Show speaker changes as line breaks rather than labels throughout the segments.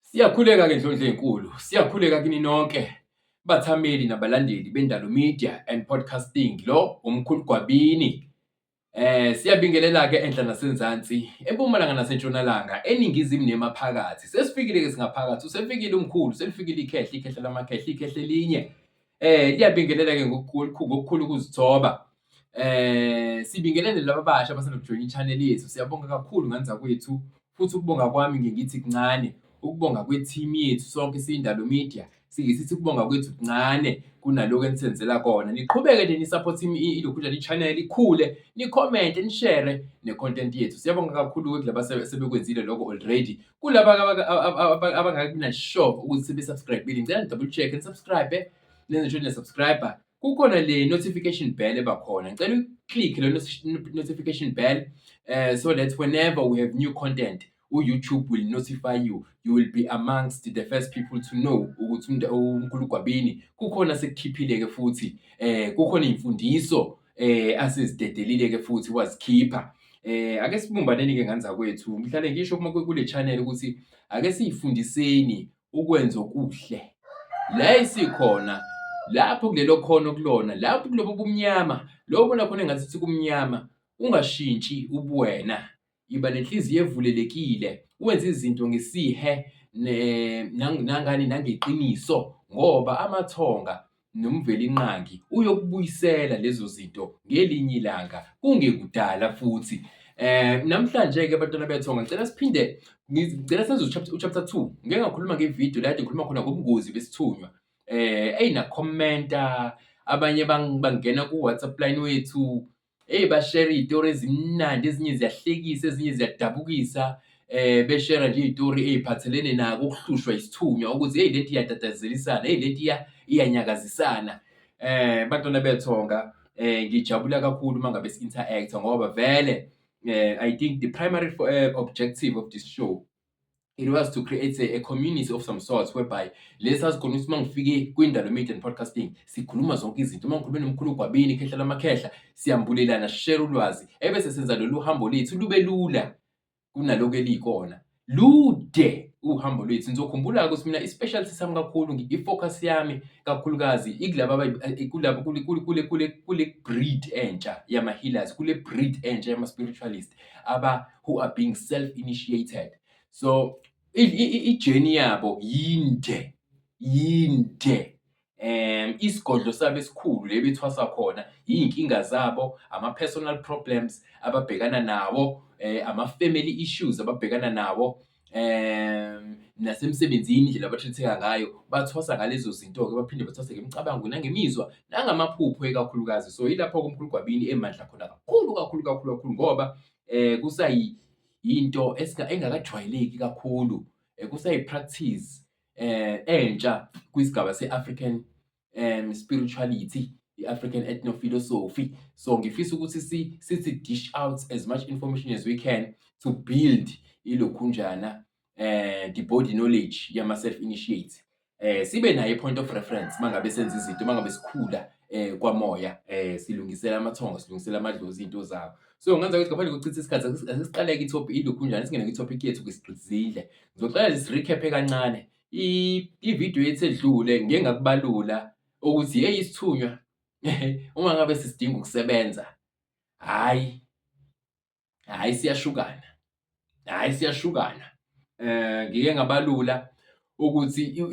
Siyakhuleka ke Ndlondlo enkulu, siyakhuleka kini nonke bathameli nabalandeli bendalo media and podcasting lo umkhulu Gwabini. Eh siyabingelela ke enhla nasenzansi, empumalanga nasentshonalanga, eningizimu nemaphakathi. Sesifikile ke singaphakathi, usefikile umkhulu, selifikile ikhehla, ikhehla lamakhehla, ikhehla elinye. Eh liyabingelela ke ngokukhulu ngokukhulu ukuzithoba. Eh sibingelele laba basha abasenokujoyina i-channel yethu. Siyabonga kakhulu nganza kwethu futhi ukubonga kwami ngingithi kuncane. Ukubonga kwe-team yethu sonke siyindalo media singisithi ukubonga kwethu kuncane kunaloko enisenzela kona. Niqhubeke nje ni-support iLokhunjana i-channel ikhule, ni-comment, ni-share ne-content yethu. Siyabonga kakhulu-ke kulaba asebekwenzile loko already. kulaba abangabi nashock ukuthi sebe-subscribile ngicela ni-double check ni-subscribe nenze sure niya-subscribe kukhona le notification bell eba khona ngicela uyi-click le notification bell uh, so that whenever we have new content u-youtube will notify you you will be amongst the first people to know ukuthi umkhulu gwabini kukhona sekukhiphile-ke futhi um kukhona iy'mfundiso eh asizidedelile ke futhi wazikhipha eh ake sibumbaneni ke ngane zakwethu mhlale ngisho uma kule channel ukuthi ake siyifundiseni ukwenza okuhle la isikhona lapho kulelo khono kulona lapho kulobo bumnyama lobo nakhona engathi kumnyama ungashintshi ubuwena Yiba nenhliziyo evulelekile, wenze izinto ngesihe nangani nangeqiniso ngoba amathonga nomvelinqangi uyokubuyisela lezo zinto ngelinye ilanga kungekudala futhi. Eh namhlanje-ke abantwana bethonga ngicela siphinde ngicela senze uchapter 2 ngike ngakhuluma ngevidiyo la kade ngikhuluma khona ngobungozi besithunywa eh eyi nakhomenta abanye bangena ku-WhatsApp line wethu Eyi bashare iy'tori ezimnandi ezinye ziyahlekisa ezinye ziyadabukisa eh beshera nje izitori eziphathelene nako ukuhlushwa isithunywa ukuthi hey leti iyadadazelisana hey leti iyanyakazisana eh bantwana bethonga eh ngijabula kakhulu uma ngabe si-interact ngoba vele eh i think the primary eh, objective of this show it was to create a, a community of some sorts whereby lesi sazikhona ukuthi uma ngifike kwindalo media and podcasting sikhuluma zonke izinto uma ngikhulume nomkhulu gwabini khehla lamakhehla siyambulelana share ulwazi ebese senza lolu hambo lethu lube lula kunaloko elikona lude uhambo lwethu ngizokhumbula ukuthi mina i-specialty sami kakhulu i-focus yami kakhulukazi ikulaba eh, kulaba kule kule kule kule breed entsha yama-healers kule breed entsha yama-spiritualist aba who are being self initiated so ijeni yabo yinde yinde um isigodlo sabo esikhulu le bethwasa khona iy'nkinga zabo ama-personal problems ababhekana nawo um ama-family issues ababhekana nawo um nasemsebenzini indlela abathetheka ngayo bathwasa ngalezo zinto-ke baphinde bathwase ngemicabango nangemizwa nangamaphupho ekakhulukazi so yilapho-ke umkhulu gwabini emandla khona kakhulu kakhulu kakhulu kakhulu ngoba um kusayinto engakajwayeleki kakhulu, kusayi-practice um entsha kwisigaba se-African um spirituality, i-African ethnophilosophy. So ngifisa ukuthi sithi dish out as much information as we can to build ilokhunjana eh the body knowledge yama self initiates eh sibe naye i point of reference mangabe senza izinto mangabe sikhula eh kwamoya eh silungisela amathongo silungisela amadlozi into zawo so ngenza ukuthi ngaphandle kokuchitha isikhathi asiqaleke itopic ilokhu njani singene kwitopic yethu kwisigcizile ngizoqala lesi recap kancane i video yethu edlule ngeke ngakubalula ukuthi hey isithunywa uma ngabe sisidinga ukusebenza hayi hhayi siyashukana, hhayi siyashukana. Um ngike ngabalula ukuthi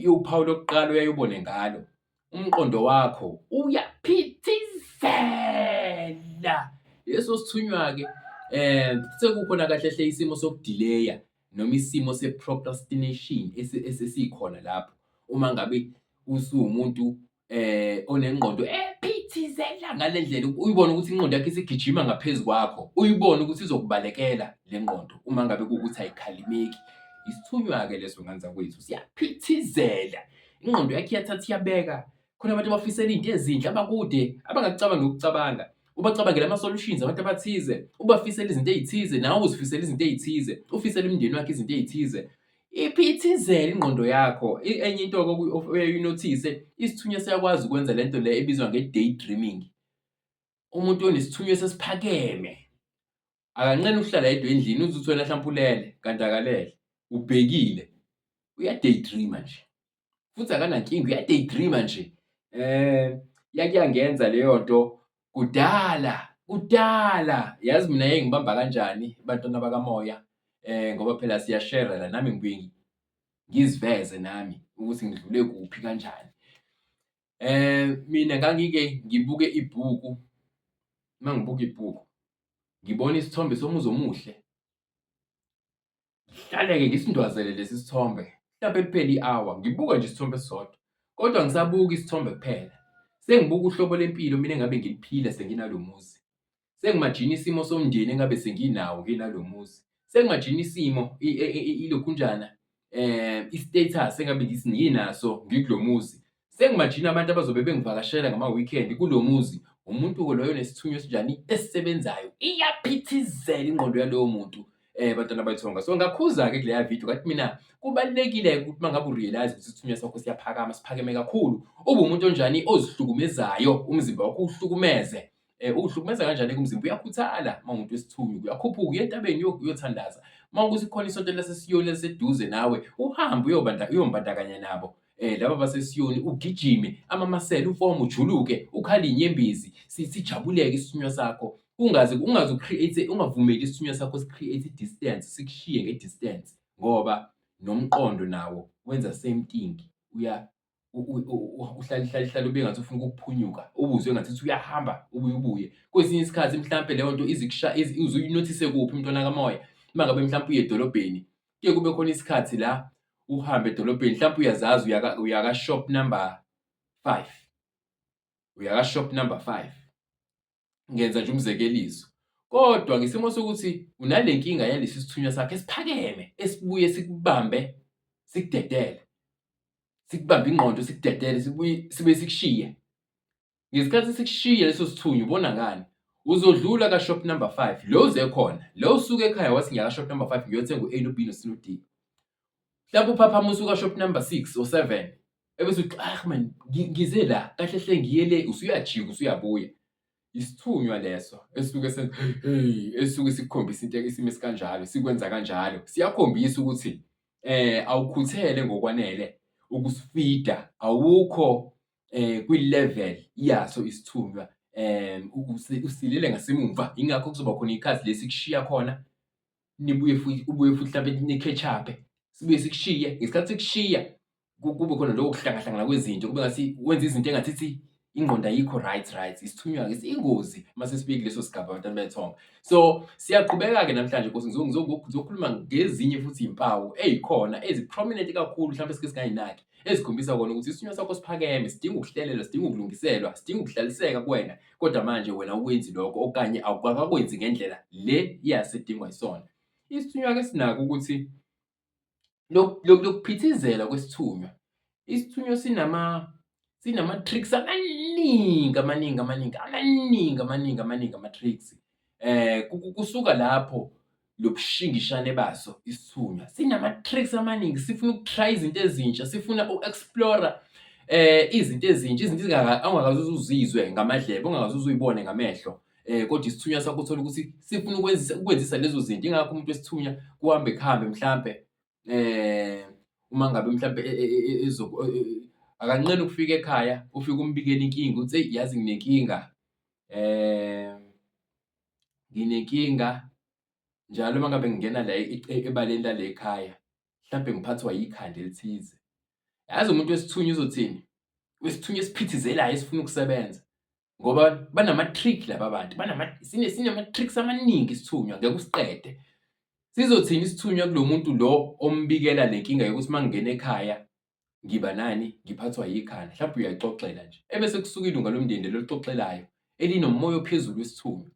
uphawu lokuqala uyayubone ngalo umqondo wakho uyaphithizela leso sithunywa-ke um sekukhona kahle hle isimo sokudileya noma isimo se-procrastination esesikhona lapho uma ngabe usuwumuntu eh onengqondo ephithizela ngalendlela uyibona ukuthi ingqondo yakhe isigijima ngaphezulu kwakho uyibona ukuthi izokubalekela lengqondo uma ngabe ukuthi ayikhalimeki isithunywa ke leso nganza kwethu siyaphithizela ingqondo yakhe iyathatha iyabeka khona abantu abafisela into ezinhle abakude abangakucabanga ukucabanga ubacabangela ama-solutions abantu abathize ubafisela izinto ey'thize nawe uzifisela izinto ey'thize ufisela umndeni wakhe izinto ey'thize Iphithizela ingqondo yakho. Enye into oyaye uyinothise, isithunywa siyakwazi ukwenza le nto le ebizwa nge-day dreaming. Umuntu onesithunywa sesiphakeme, akanqeni ukuhlala yedwa endlini, uze uthole mhlawumpe ulele kanti akalele, ubhekile, uya-day dreamer nje. futhi akanankinga uyadaydreama nje eh yakuyangenza leyo nto kudala kudala yazi mina yeke ngibamba kanjani abantwana bakamoya eh ngoba phela siyashare la nami ngibuye ngiziveze nami ukuthi ngidlule kuphi kanjani eh mina ngangike ngibuke ibhuku uma ngibuka ibhuku ngibona isithombe somuzi omuhle Ngihlale-ke ngisindwazele lesi sithombe mhlampe kuphele i-hour ngibuka nje isithombe esisodwa kodwa ngisabuka isithombe kuphela. Sengibuka uhlobo lempilo mina engabe ngiliphila senginalo muzi. Sengimajina isimo somndeni engabe senginawo nginalo muzi. Sengimajina isimo ilokhunjana um i-status engabe nginaso ngikulo muzi. Sengimajina abantu abazobe bengivakashela ngama-weekend kulo muzi. Umuntu-ke loyo nesithunywa esinjani esisebenzayo. Iyaphithizela ingqondo yalowo muntu um eh, bantwana bayithonga. So ngakhuza-ke kuleya video kathi mina kubalulekile-ke ukuthi uma ngabe urealize ukuthi isithunywa sakho siyaphakama, siphakeme kakhulu. Ube umuntu onjani ozihlukumezayo, umzimba wakho uwuhlukumeze. Eh, uhlukumeza kanjani kumzimba uyakhuthala uma umuntu wesithunywa uyakhuphuka uye entabeni uyothandaza uma ukuthi khona isonto lasesiyoni eliseduze nawe uhambe uyombandakanya nabo eh laba basesiyoni ugijime amamasela ufomu ujuluke ukhale inyembezi sijabuleke isithunywa sakho ungaze ungaze ucreate ungavumeli isithunywa sakho sicreate distance sikushiye ngedistance ngoba nomqondo nawo wenza same thing uya uhlalihlalihlale ube ngathi ufuna ukuphunyuka ubuzwe ngathi uthi uyahamba ubuye ubuye kwesinye isikhathi mhlampe leyo nto izikusha uzuyinothise kuphi umntwana kamoya uma ngabe mhlampe uye edolobheni kuye kube khona isikhathi la uhambe edolobheni mhlampe uyazazi uyaka-shop number five uyaka-shop number five ngenza nje umzekeliso. Kodwa ngesimo sokuthi unale nkinga yalesi sithunywa sakhe esiphakeme esibuye sikubambe sikudedele, sikubambe ingqondo sikudedele sibuye sibe sikushiye. Ngesikhathi sikushiye leso sithunywa ubona ngani? Uzodlula ka-shop number five, lo uze khona, lo usuke ekhaya wathi ngiya ka-shop number five ngiyothenga u-A no-B no-C no-D. mhlawumbe uphaphama usuka shop number six or seven ebese uthi ah man ngi- ngize la kahle hle ngiye le usuyajika usuyabuya isithunywa leso esuke se hey esuke sikukhombisa into isimo esikanjalo sikwenza kanjalo siyakhombisa ukuthi eh awukhuthele ngokwanele ukusifida awukho eh kwi level yaso isithunywa em u- usi- usilele ngasemumva ingakho kuzoba khona ikhasi lesikushiya khona nibuye futhi ubuye futhi mhlawumbe nikhetshape sibuye sikushiye ngesikhathi sikushiya kube khona lokho kuhlangahlangana kwezinto kube ngathi wenza izinto engathi ithi ingqondo ayikho right right isithunywa-ke siyingozi uma sesibeki leso sigaba abantwana bethonga so siyaqhubeka-ke namhlanje nkosi ngizokhuluma ngezinye futhi izimpawu eyikhona ezi-prominent kakhulu mhlawumbe esike singayinaki ezikhombisa kona ukuthi isithunywa sakho siphakeme sidinga ukuhlelelwa sidinga ukulungiselwa sidinga ukuhlaliseka kuwena kodwa manje wena ukwenzi lokho okanye awukakakwenzi ngendlela le yasedingwa isona. Isithunywa ke sinako ukuthi lokuphithizela kwesithunywa. Isithunywa sinama sinama-tricks amaningi amaningi amaningi amaningi amaningi amaningi ama-tricks. Kusuka lapho lobushingishane baso isithunywa sinama-tricks amaningi sifuna ukutry izinto ezintsha sifuna u-explora eh izinto ezintsha izinto ongakaze uzizwe ngamadlebe ongakaze uzuyibone ngamehlo eh kodwa isithunywa sakho uthola ukuthi sifuna ukwenzisa ukwenzisa lezo zinto ingakho umuntu wesithunywa kuhambe kuhambe mhlampe uma ngabe mhlawumbe e, e, e, akanqeni ukufika ekhaya ufike umbikela inkinga uthi eyi yazi nginenkinga um nginenkinga njalo uma ngabe ngingena la ebaleni lale ekhaya mhlawumbe ngiphathwa yikhanda elithize yazi umuntu wesithunywa uzothini wesithunywa esiphithizelayo esifuna ukusebenza ngoba banama-trick laba bantu sinama-tricks amaningi isithunywa ngeke usiqede sizothini isithunywa kulo muntu lo ombikela le nkinga yokuthi uma ngingena ekhaya ngiba nani ngiphathwa yikhanda mhlawumbe uyaxoxela nje ebese kusukile ungalomndeni loluxoxelayo elinomoya ophezulu wesithunywa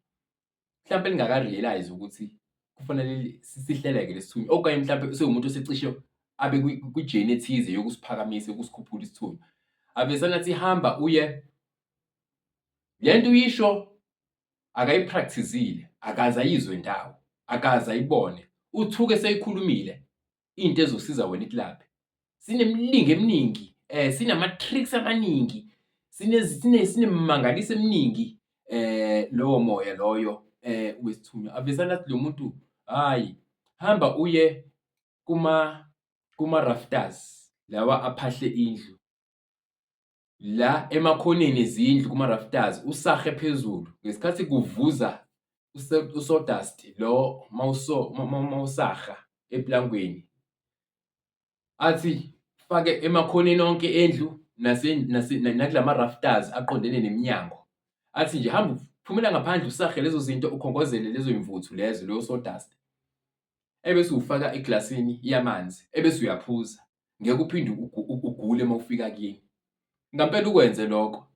mhlawumpe lingaka-realise ukuthi kufanele sihleleke lesithunywa okanye mhlawumpe sewumuntu osecishe abe kwi-journey ethize yokusiphakamisa, yokusikhuphula isithunywa. Ave sengathi ihamba uye le nto uyisho akayi-practice-ile, akaze ayizwe ndawo, akaze ayibone. Uthuke seyikhulumile into ezosiza wena ikulaphe sinemilingo eminingi eh sinama-tricks amaningi sinemangaliso eminingi eh lowo moya loyo eh wesithunywa avesana athi lo muntu hhayi hamba uye kuma-rafters lawa aphahle indlu la emakhoneni ezindlu kuma-rafters usahe phezulu ngesikhathi kuvuza usodust lo mawusaha eplangweni athi fake emakhoneni onke endlu nakula ma-rafters aqondene nemnyango athi nje hamba phumela ngaphandle usahe lezo zinto ukhongozele lezo yimvuthu lezo leyo sodust ebese uwufaka eglasini yamanzi ebese uyaphuza ngeke uphinde ugule uma ufika kini ngampela ukwenze lokho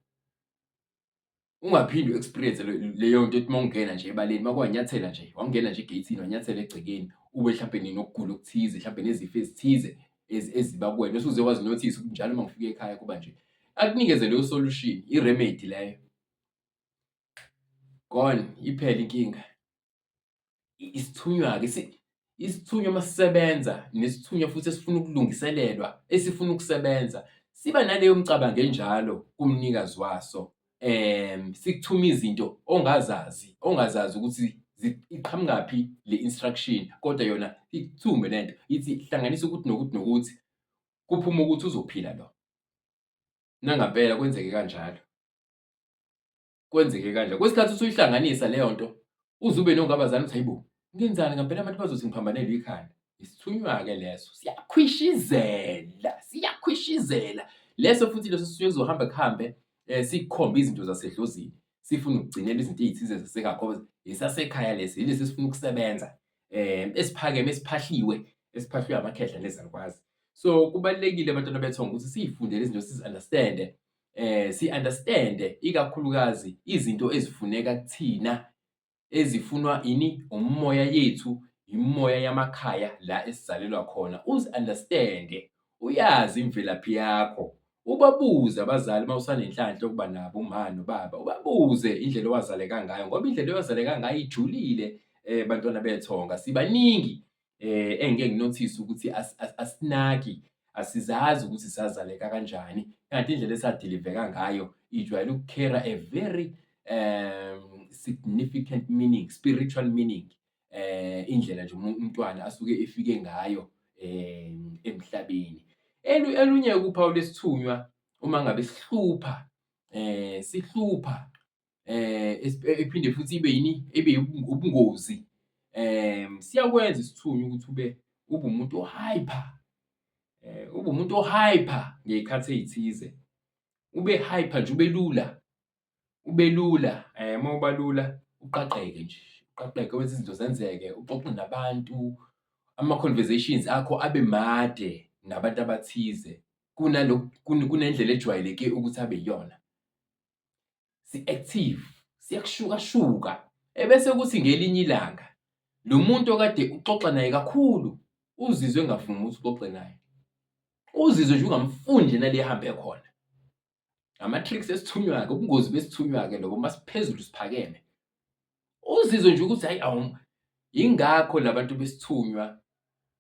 ungaphinde u-experience leyo nto ethi uma ungena nje ebaleni uma kwanyathela nje wangena nje egeyithini wanyathela egcekeni ube mhlawumbe ninokugula okuthize mhlawumbe nezifo ezithize eziba kuwena usuze wazinothisa ukuthi njalo uma ngifika ekhaya kuba nje akunikeze leyo solution i-remedy leyo gone iphele inkinga isithunywa-ke isithunywa uma sisebenza nesithunywa futhi esifuna ukulungiselelwa esifuna ukusebenza siba naleyo mcabango enjalo kumnikazi waso um sikuthuma izinto ongazazi ongazazi ukuthi iqhamukaphi le instruction kodwa yona ikuthume le nto ithi hlanganisa ukuthi nokuthi nokuthi kuphuma ukuthi uzophila lo nangampela kwenzeke kanjalo kwenzeke kanje kwesikhathi usuyihlanganisa leyo nto uze ube nongabazana ukuthi hayibo ngenzani ngampela abantu bazothi ngiphambanelwe ikhanda isithunywa-ke leso siyakhwishizela siyakhwishizela leso futhi leso sisuke kuzohambe kuhambe um eh, sikhombe izinto zasedlozini sifuna ukugcinela izinto ey'thize zasengakho esasekhaya lesi yilesi esifuna ukusebenza um esiphakeme esiphahliwe esiphahliwe amakhehla nezalukwazi so kubalulekile abantwana bethonga ukuthi siyifundele izinto sizi-understande si-understand-e ikakhulukazi izinto ezifuneka kuthina ezifunwa ini umoya yethu imimoya yamakhaya la esizalelwa khona uzi-understand-e uyazi imvelaphi yakho ubabuze abazali uma usanenhlanhla yokuba nabo umama nobaba ubabuze indlela owazaleka ngayo ngoba indlela owazaleka ngayo ijulile um bantwana bethonga sibaningi engike nginothise ukuthi asinaki asizazi ukuthi sazaleka kanjani kanti indlela esadiliveka ngayo ijwayele ukukhera a very um significant meaning spiritual meaning eh indlela nje umntwana asuke efike ngayo eh, emhlabeni elunye kuphawu lesithunywa uma ngabe sihlupha eh sihlupha ephinde futhi ibe yini ibe ubungozi siyakwenza isithunywa ukuthi ube ube umuntu o-hyper ube umuntu o-hyper ngey'khathi ey'thize ube hyper nje ube lula ube lula uma uba lula uqaqeke nje uqaqeke wenze izinto zenzeke uxoxe nabantu ama-conversations akho abe made nabantu abathize kunendlela ejwayeleke ukuthi abe yiyona. si-active siyakushukashuka ebese kuthi ngelinye ilanga lo muntu okade uxoxa naye kakhulu uzizwe engavumi ukuthi uxoxe naye uzizwe nje ungamfuni nje nale ehambe khona ngama-tricks esithunywa-ke ubungozi besithunywa-ke lobo uma siphezulu siphakeme uzizwe nje ukuthi hayi awu yingakho labantu besithunywa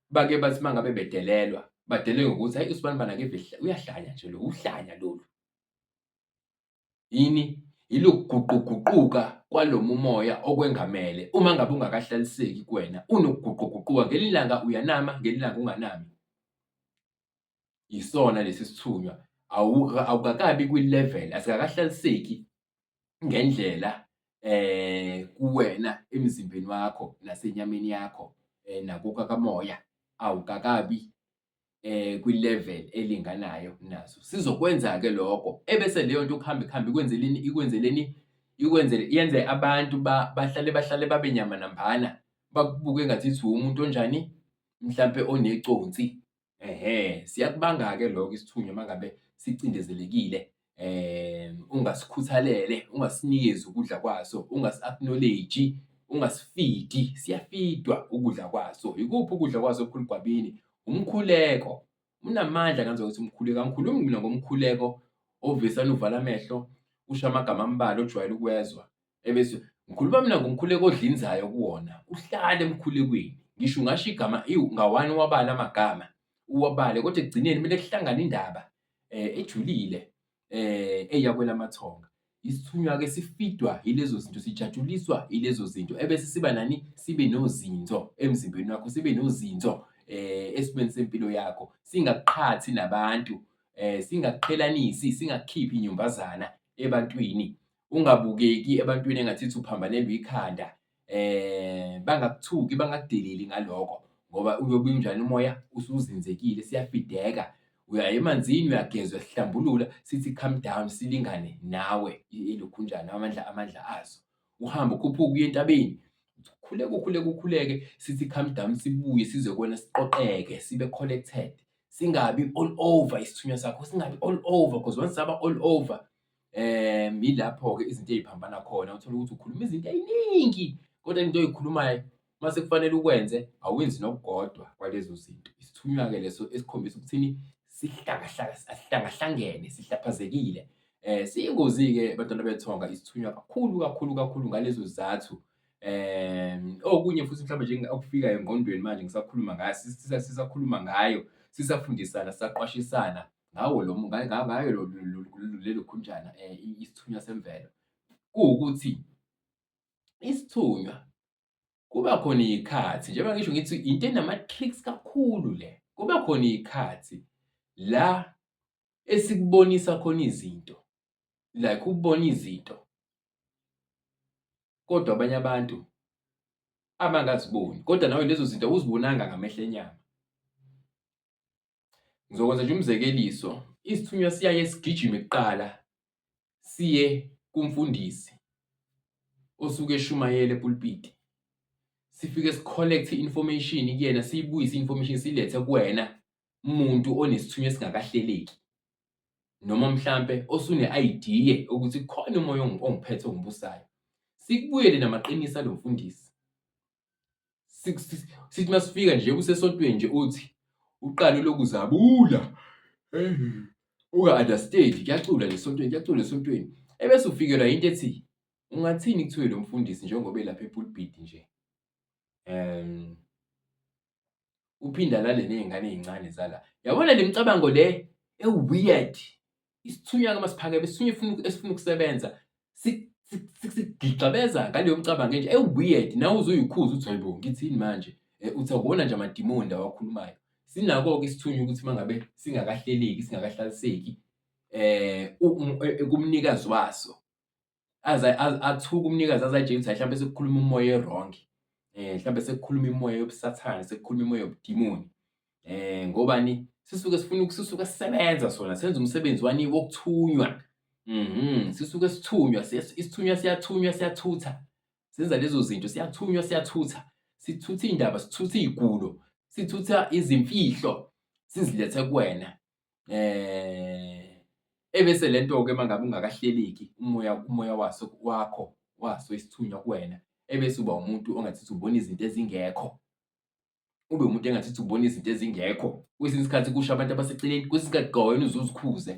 bake bathi uma ngabe bedelelwa badelelwe ngokuthi hayi usibani bana ke uyahlanya nje lo uhlanya lolu Yini? Yilokuguquguquka kwalo mumoya okwengamele uma ngabe ungakahlaliseki kuwena. Unokuguquguquka, ngelinye ilanga uyanama, ngelinye ilanga unganami. Yisona lesi sithunywa. Awukakabi kwi-level, asikakahlaliseki ngendlela eh kuwena emzimbeni wakho nasenyameni yakho eh nakuka kamoya awukakabi eh kwi-level elinganayo nazo sizokwenza ke lokho ebese leyo nto ukuhamba ikuhambe ikwenzeleni ikwenzeleni ikwenzele yenze abantu bahlale bahlale babe nyama nambana bakubuke ngathi ithi umuntu onjani mhlampe oneconsi ehe siyakubanga-ke lokho isithunywa uma ngabe sicindezelekile ungasikhuthalele, ungasinikezi ukudla kwaso, ungasi-acknowledge-i, ungasifidi, siyafidwa ukudla kwaso. Yikuphi ukudla kwaso okukhulu egwabini? Umkhuleko. Unamandla ngenza ukuthi umkhuleko, angikhulumi mina ngomkhuleko ovesana uvala amehlo, usho amagama ambalwa ojwayele ukuwezwa. ebese ngikhuluma mina ngomkhuleko odlinzayo kuwona uhlale emkhulekweni ngisho ungasho igama iwu ngawani wabala amagama uwabale kodwa ekugcineni kumele kuhlangane indaba um ejulile um eh, eyakwelamathonga isithunywa-ke sifidwa yilezo zinto sijatshuliswa yilezo zinto ebese siba nani sibe nozinzo emzimbeni wakho sibe nozinzo um eh, esimeni sempilo yakho singaqhathi nabantu um singaqhelanisi singakhiphi inyumbazana ebantwini ungabukeki ebantwini engathithi uphambanelwe ikhanda um bangakuthuki bangakudeleli ngaloko ngoba uyobe unjani umoya usuzinzekile siyafideka uya emanzini uyagezwa sihlambulula sithi come down silingane nawe ilokhunjana amandla amandla azo uhambe ukhuphuke uye entabeni khuleke ukhuleke ukhuleke sithi come down sibuye size kwena siqoqeke sibe collected singabi all over isithunywa sakho singabi all over because once saba all over um yilapho-ke izinto ey'phambana khona uthole ukuthi ukhuluma izinto ey'ningi kodwa into oy'khulumayo uma sekufanele ukwenze awenzi nokukodwa kwalezo zinto isithunywa-ke leso esikhombisa ukuthini sihlangahlangene sihlaphazekile um siyingozi-ke abantwana bethonga isithunywa kakhulu kakhulu kakhulu ngalezo zizathu um okunye futhi mhlawumbe nje okufikayo engqondweni manje ngisakhuluma ngayo sisakhuluma ngayo sisafundisana sisaqwashisana ngawo lo ngayo lelo khunjana eh, isithunywa semvelo kuwukuthi isithunywa kuba khona iy'khathi njengoba ngisho ngithi into enama-tricks kakhulu le kuba khona iy'khathi la esikubonisa khona izinto like ukubona izinto kodwa abanye abantu abangaziboni kodwa nawe lezo zinto awuzibonanga ngamehlo enyama Ngizokwenza nje umzekeliso, isithunywa siyaye sigijime kuqala siye kumfundisi osuke eshumayela epulpiti. Sifike si-collect i-information kuyena, siyibuyise i-information silethe kuwena muntu onesithunywa esingakahleleki noma mhlampe osune-idea ukuthi khona umoya ongiphethe ongibusayo. Sikubuyele namaqiniso alomfundisi. sithi masifika nje kusesontweni nje uthi uqale lokuzabula unga-understand kuyacula lesontweni kuyacula lesontweni ebese ufikelwa yinto ethi ungathini kuthiwe lo mfundisi njengoba elapha epulpiti nje um uphinde alale nezingane ezincane zala yabona le micabango le eweird isithunywa ke masiphakeme isithunywa ifuna esifuna ukusebenza sigixabeza ngaleyo mcabango nje eweird nawe uzuyikhuza uthi hayibo ngithini manje eh, uthi akuwona nje amadimoni lawa akhulumayo sinako-ke isithunywa ukuthi uma ngabe singakahleleki singakahlaliseki eh, um eh, kumnikazi waso aze athuke umnikazi aze ayitshela ukuthi hlampe sekukhuluma umoya ewrong eh hlampe sekukhuluma imoya yobusathane sekukhuluma imoya yobudimoni eh ngobani sisuke sifuna ukususuka sisebenza sona senza umsebenzi wani wokuthunywa mhm sisuke sithunywa isithunywa siyathunywa siyathutha senza lezo zinto siyathunywa siyathutha sithutha indaba sithutha izigulo sithutha izimfihlo sizilethe kuwena eh ebese lento ke mangabe ungakahleleki umoya umoya waso wakho waso isithunywa kuwena ebese uba umuntu ongathithi ubona izinto ezingekho ube umuntu engathithi ubona izinto ezingekho kwesinye isikhathi kusho abantu abaseceleni kwesinye isikhathi gawena uzuzikhuze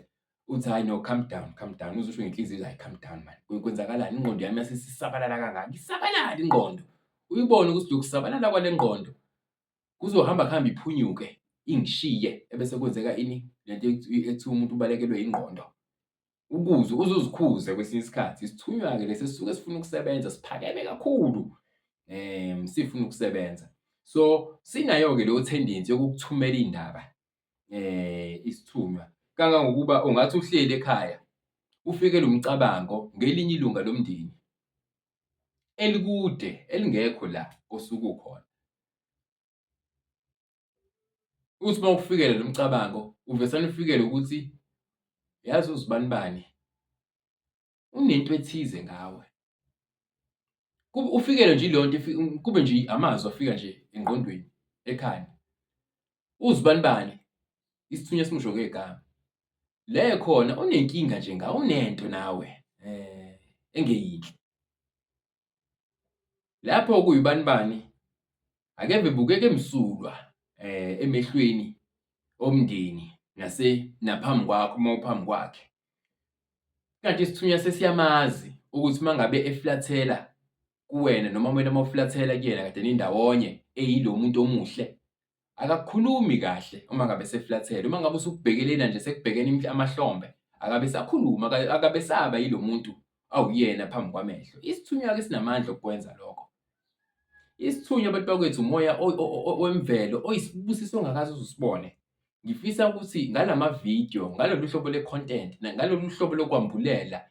uthi hayi no calm down calm down uzusho ngenhliziyo hayi calm down man kwenzakalani ingqondo yami yasesisabalala kangaka isabalala ingqondo uyibone ukuthi lokusabalala kwale ngqondo kuzohamba kuhambe iphunyuke ingishiye ebese kwenzeka ini lento ethi umuntu ubalekelwe ingqondo ukuze uzuzikhuze kwesinye isikhathi isithunywa-ke lesi sisuke sifuna ukusebenza siphakeme kakhulu um sifuna ukusebenza so sinayo-ke leyo tendency yokukuthumela iy'ndaba um isithunywa kangangokuba ungathi uhleli ekhaya ufikelwe umcabango ngelinye ilunga lomndeni elikude elingekho la osuke ukhona uthi uma ufikele lo mcabango uvesane ufikele ukuthi yazi uzibani bani unento ethize ngawe ufikele nje leyo nto kube nje amazwi afika nje engqondweni ekhanda uzibani bani isithunywa simsho ngegama Le khona unenkinga nje ngawe unento nawe eh engeyinhle. Lapho kuyibani bani ake bebukeke msulwa eh emehlweni omndeni nase naphambi kwakho uma uphambi kwakhe. Kanti isithunywa sesiyamazi ukuthi uma ngabe eflathela kuwena noma wena uma uflathela kuyena kade nindawonye eyilomuntu omuhle akakhulumi kahle uma ngabe seflathele uma ngabe usubhekelena nje sekubhekene amahlombe akabe sakhuluma akabe saba yilo muntu awuyena phambi kwamehlo isithunywa ke sinamandla okwenza lokho isithunywa abantu bakwethu umoya wemvelo oyisibusiso ongakaze uzusibone ngifisa ukuthi ngalama video ngalolu hlobo le content ngalolu hlobo lokwambulela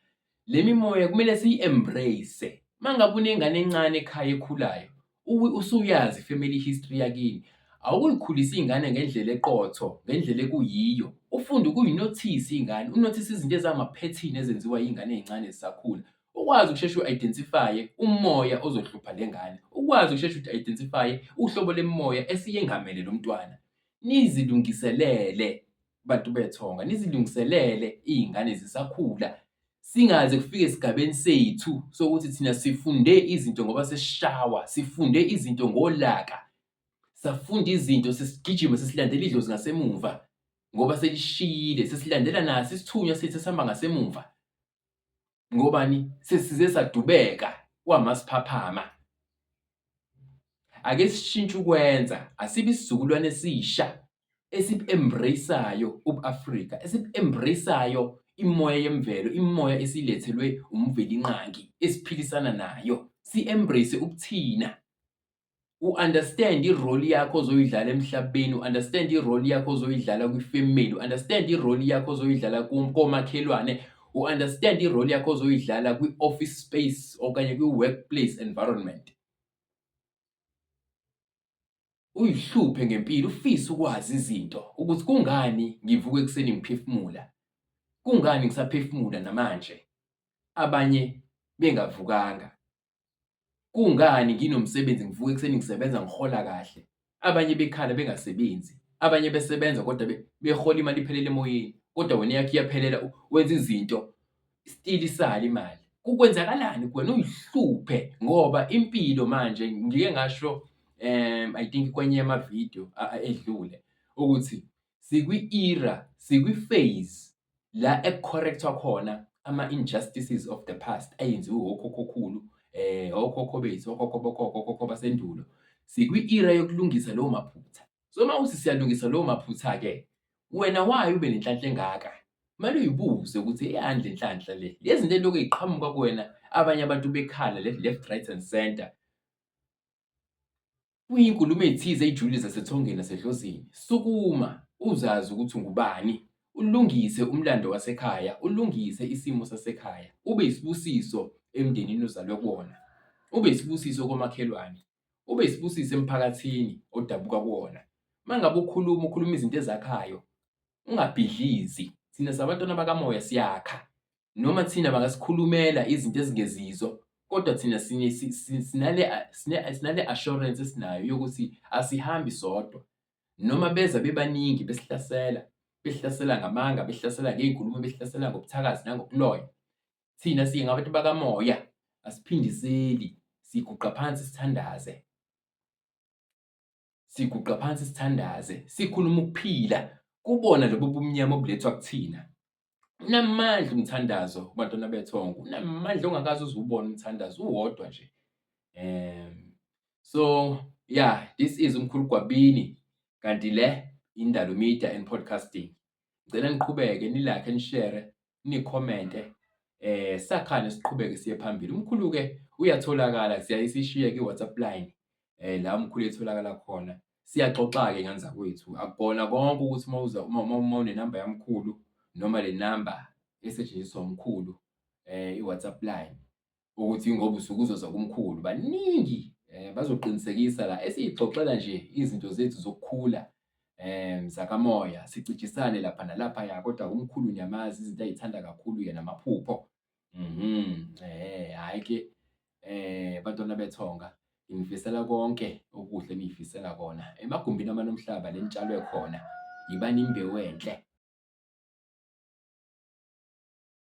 Le mimoya kumele siyi-embrace. Uma ngabe unengane encane ekhaya ekhulayo, usuyazi family history yakini, awukuyikhulisa iy'ngane ngendlela eqotho, ngendlela ekuyiyo. Ufunde ukuyinothisa iy'ngane, unothise izinto ezamaphethini ezenziwa iy'ngane ey'ncane zisakhula. Ukwazi ukusheshe u-identify-e umoya ozohlupha le ngane, ukwazi ukusheshe uku-identify-e uhlobo lemimoya esiyengamele lo mntwana, nizilungiselele. bantu bethonga nizilungiselele iy'ngane zisakhula singaze kufike esigabeni sethu sokuthi thina sifunde izinto ngoba sesishawa sifunde izinto ngolaka safunda izinto sesigijima sesilandela idlozi ngasemuva ngoba selishiyile sesilandela naso isithunywa sethu esihamba ngasemuva ngobani sesize sadubeka kwamasiphaphama ake sishintshe ukwenza asibe isizukulwane esisha esibu-embraceayo ubu-afrika esibu-embraceayo imoya yemvelo imoya esilethelwe umvelinqangi esiphilisana nayo si-embrace ubuthina u-understand i-role yakho ozoyidlala emhlabeni, u-understand i-role yakho ozoyidlala kwi-family, u-understand i-role yakho ozoyidlala komakhelwane, u-understand i-role yakho ozoyidlala kwi-office space okanye kwi-workplace environment. Uyihluphe ngempilo, ufise ukwazi izinto ukuthi kungani ngivuka ekuseni ngiphefumula, kungani ngisaphefumula namanje abanye bengavukanga. Kungani nginomsebenzi ngivuka ekuseni ngisebenza ngihola kahle, abanye bekhala bengasebenzi, abanye besebenza kodwa behola imali iphelele emoyeni kodwa wena eyakho iyaphelela wenza izinto still isale imali. Kukwenzakalani kuwena uyihluphe ngoba impilo manje ngike ngasho um I think kwenye yama-video edlule ukuthi sikwi-era, sikwi-phase la ekucorrect-wa khona ama-injustices of the past ayenziwe wokhokhokhulu, um okhokho bethu, okhokho bokhokho, okhokho basendulo. Sikwi-era yokulungisa lowo maphutha. So uma uthi siyalungisa lowo maphutha-ke, wena wayo ube nenhlanhla engaka? Kumele uyibuze ukuthi eyandle inhlanhla le. Lezi zinto elokhu ziqhamuka kuwena abanye abantu bekhala left, left, right and center. Kuyinkulumo ethize ejulile zasethongeni lasedlozini. Sukuma, uzazi ukuthi ungubani. Ulungise umlando wasekhaya, ulungise isimo sasekhaya. Ube isibusiso emndenini ozalwe kuwona. Ube isibusiso komakhelwane. Ube isibusiso emphakathini odabuka kuwona. Uma ngabe ukhuluma, ukhuluma izinto ezakhayo. Ungabhidlizi. Thina sabantwana bakamoya siyakha. noma thina bangasikhulumela izinto ezingezizo kodwa thina sinale assurance esinayo yokuthi asihambi sodwa noma beza bebaningi besihlasela behlasela ngamanga behlasela ngey'nkulumo behlasela ngobuthakazi nangobuloya thina siye ngabantu bakamoya asiphindiseli siguqa phansi sithandaze siguqa phansi sithandaze sikhuluma ukuphila kubona lobu bumnyama obulethwa kuthina unamandla umthandazo kubantwana bethongo unamandla ongakaze uzubona umthandazo uwodwa nje um so yeah this is umkhulu gwabini kanti le indalo media and podcasting ngicela niqhubeke nilakhe nishere nikhomente eh sakhane siqhubeke siye phambili umkhulu ke uyatholakala siyayisishiye ki WhatsApp line eh la umkhulu etholakala khona siyaxoxa ke ngane zakwethu akukona konke ukuthi uma uza uma uma une number yamkhulu noma le number esetshenziswa umkhulu eh iWhatsApp line ukuthi ngoba usuke uzoza kumkhulu baningi um bazoqinisekisa la esiyixoxela nje izinto zethu zokukhula um zakamoya sicijisane lapha nalaphaya kodwa umkhulu niyamazi izinto ayithanda kakhulu yena amaphupho um hhayi ke um bantwana bethonga ngifisela konke okuhle engiyifisela kona emagumbini amanomhlaba le nitshalwe khona yibani imbewu enhle